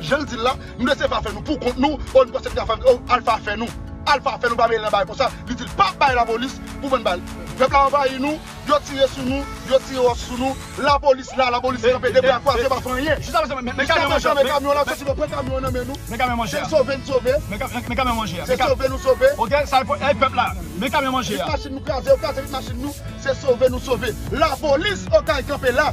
Jan l di l la, Nou lese Alfa fè nou pou kont nou, oh nou panse li ka fè oh Alfa fè nou. Alfa fè nou pa mele nan bagay konsa, li di l pa bay lapolis pou vann bal. Pèp la anvayi nou, yo tire sou nou, yo tire ròch sou nou, lapolis la, lapolis kanpe de bra kwaze pa fè anyen. Jiska prezan men kamyon an, se sove n sove, se sove nou sove. Vit machin nou kraze, yo kraze vit machin nou, se sove nou sove. Lapolis Okay kanpe la.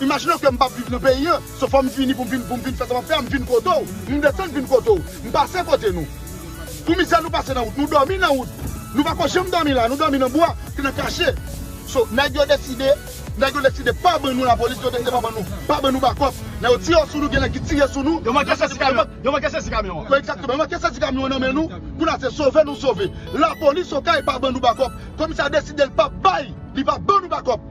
Imajine w ke m pap viv nan peyi an, so fò m vini pou m vin pou m vin fè sa m ap fè a, m vin kote w, m desann vin kote w, m pase kote nou. Pou mizè nou pase nan wout, nou dòmi nan wout. Nou pa ko janm dòmi la, nou dòmi nan bwa, se nan kache. So, nèg yo deside, nèg yo deside pa ban nou lapolis, yo deside pa ban nou, pa ban nou bakòp. Lè yo tire sou nou, gen nèg ki tire sou nou. Yo manke sezi kamyon, yo manke sezi kamyon an. Ekzakteman, yo manke sezi kamyon an nan men nou. Kounye a se sove nou sove. Lapolis Okay pa ban nou bakòp. Komisè a deside l pap bay, li pap ban nou bakòp.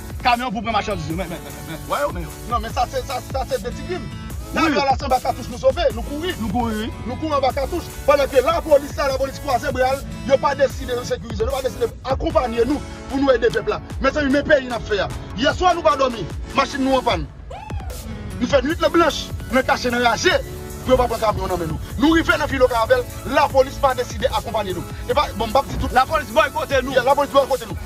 Kamyon pou pran machandiz yo. Men, men, men, men, wè yo, men yo. Non, men sa se, sa, sa se de ti gin. Kamyon la se anba katouch nou sove, nou kouri. Nou kouri, wi. Nou kouri anba katouch. Pandan ke lapolis la, lapolis kwaze bra l, yo pa deside yo sekirize nou, yo pa deside akonpanye nou pou nou ede pèp la. Mezanmi, men peyi n ap fè a. Yèswa nou pa dòmi, machin nou anpàn. Nou fè nwit lan blanch, nan kache, nan raje, pou yo pa pran kamyon nan men nou. Nou rive nan Filo Karavèl, lapolis pa deside akonpanye nou. E pa, bon m pa p di tout. Lapolis bòykote nou. Ya, lapolis bòykote nou.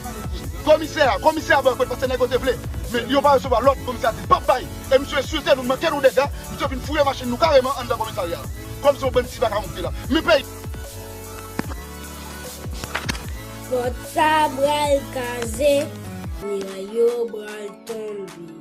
Komisè a, komisè a bòykote paske nèg yo te vle, men yo pa resevwa lòd, komisè a di l pa p bay, e misye ensilte nou, manke nou dega, misye vin fouye machin nou kareman anndan komisarya a. Kòm se yon bann ti vagabon ki te la. Men peyi. Pòt sa pral kaze, miray yo pral tonbe.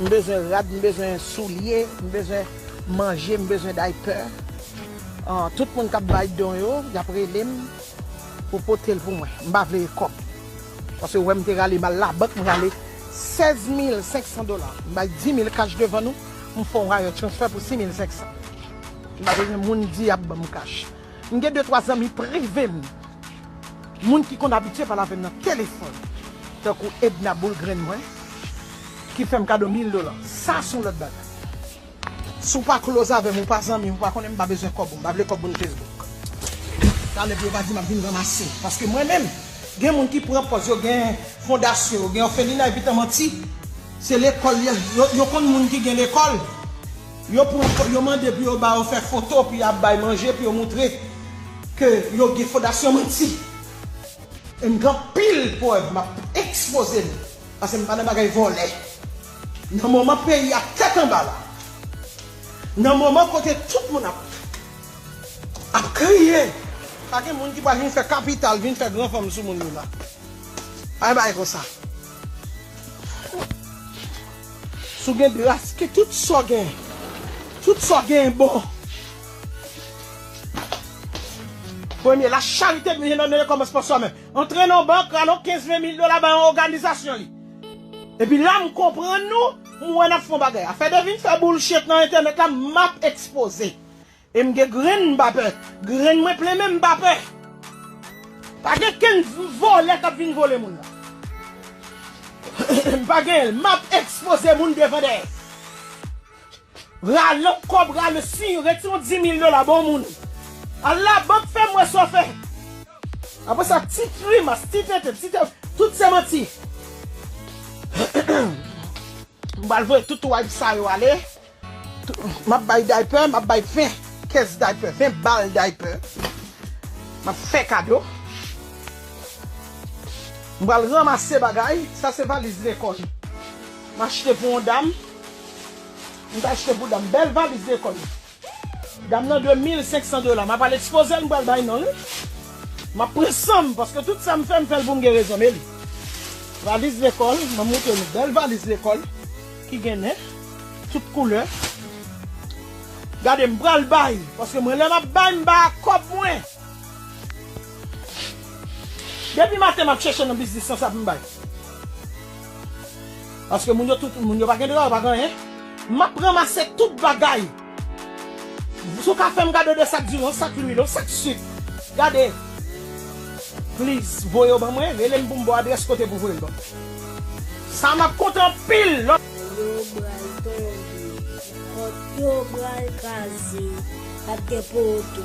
M bezwen rad, m bezwen soulye, m bezwen manje, m bezwen diaper. Tout moun k ap bay don yo, y ap rele m pou pote l pou mwen. M pa vle ekòb. Paske ou wè m te rale m al labank, m rale 16 mil 500 dola. M bay 10 mil kach devan nou, m fè yon wire transfer pou 6 mil 500. M pa bezwen moun di y ap ban m kach. M gen de twa zanmi prive m, moun ki konn abitye pale avè m nan telefòn, tankou Edna boul grenn mwen, ki fè m kado mil dola. Sa s on lòt bagay. Si w pa close avè m, ou pa zanmi m, ou pa konnen m, m pa bezwen kòb ou, m pa vle kòb moun Facebook. Talè pou yo pa di m ap vin ranmase. Paske mwen menm, gen moun ki pran pòz yo gen fondasyon, yo gen òfelina epitan manti se lekòl yo konn moun ki gen lekòl. Yo pran fo yo mande pou yo ba yo fè foto pou ya bay manje pou yo moutre ke yo gen fodasyon manti e m gen anpil prèv map ekspoze nou pase m pa nan bagay vòlè nan moman peyi a tèt anba la nan moman kote tout moun ap ap kriye pa gen moun ki pral vin fè kapital vin fè gran fanm sou moun yo la pa gen bagay konsa. Si w gen dras ke tout sa w gen, tout sa w gen bon. Premye, la charite dwe nan mele kòmans pa swa menm. Antre nan bank, alon 15 20 mil dola bay yon oganizasyon li. Epi la m konprann nou, m wè n ap fè yon bagay. Afè de vin fè boulchet nan entènèt la, m ap ekspoze. E m gen grenn m pa pè. Grenn mwen plen men m pa pè. Pa gen kenn vòlè k ap vin vole moun nan. M pa genyen l. M ap ekspoze moun devan dèyè. Rale kòb rale si yo rete yon dimil dola ba w moun. Al labank fè m wè sa w fè. Apre sa ti grimas, ti tenten, ti tenten, tout se manti. M pral voye tout wayp sa yo ale. Map bay daypè, map bay 20 kès daypè, 20 bal daypè. Map fè kado. M pral ranmase bagay. Sa se valiz lekòl. M achte pou yon dam. M ta achte pou dam. Bèl valiz lekòl. Dam nan dwe 1500 dola. Map al ekspoze l m pral bay non l. Map pran san m paske tout sa m fè m fè l pou m gen rezon. Men li. Valiz lekòl. Mwen montre nou bèl valiz lekòl. Ki gen nen tout koulè. Gade m pral bay paske mwen lè map bay m bay ak kòb mwen. Depi maten map chèche nan biznis lan sa pou m bay. Paske moun yo tout moun yo pa gen dra yo pa gen anyen. Map ranmase tout bagay. Sou ka fèm gade 2 sak durons sak lwil yon sak suk gade please voye yo ban mwen relem poum baw adrès kote pou voyel ban mwen sa map kontan anpil lò. Yo bral tonbe. Pot yo bral kraze. Pap gen poto.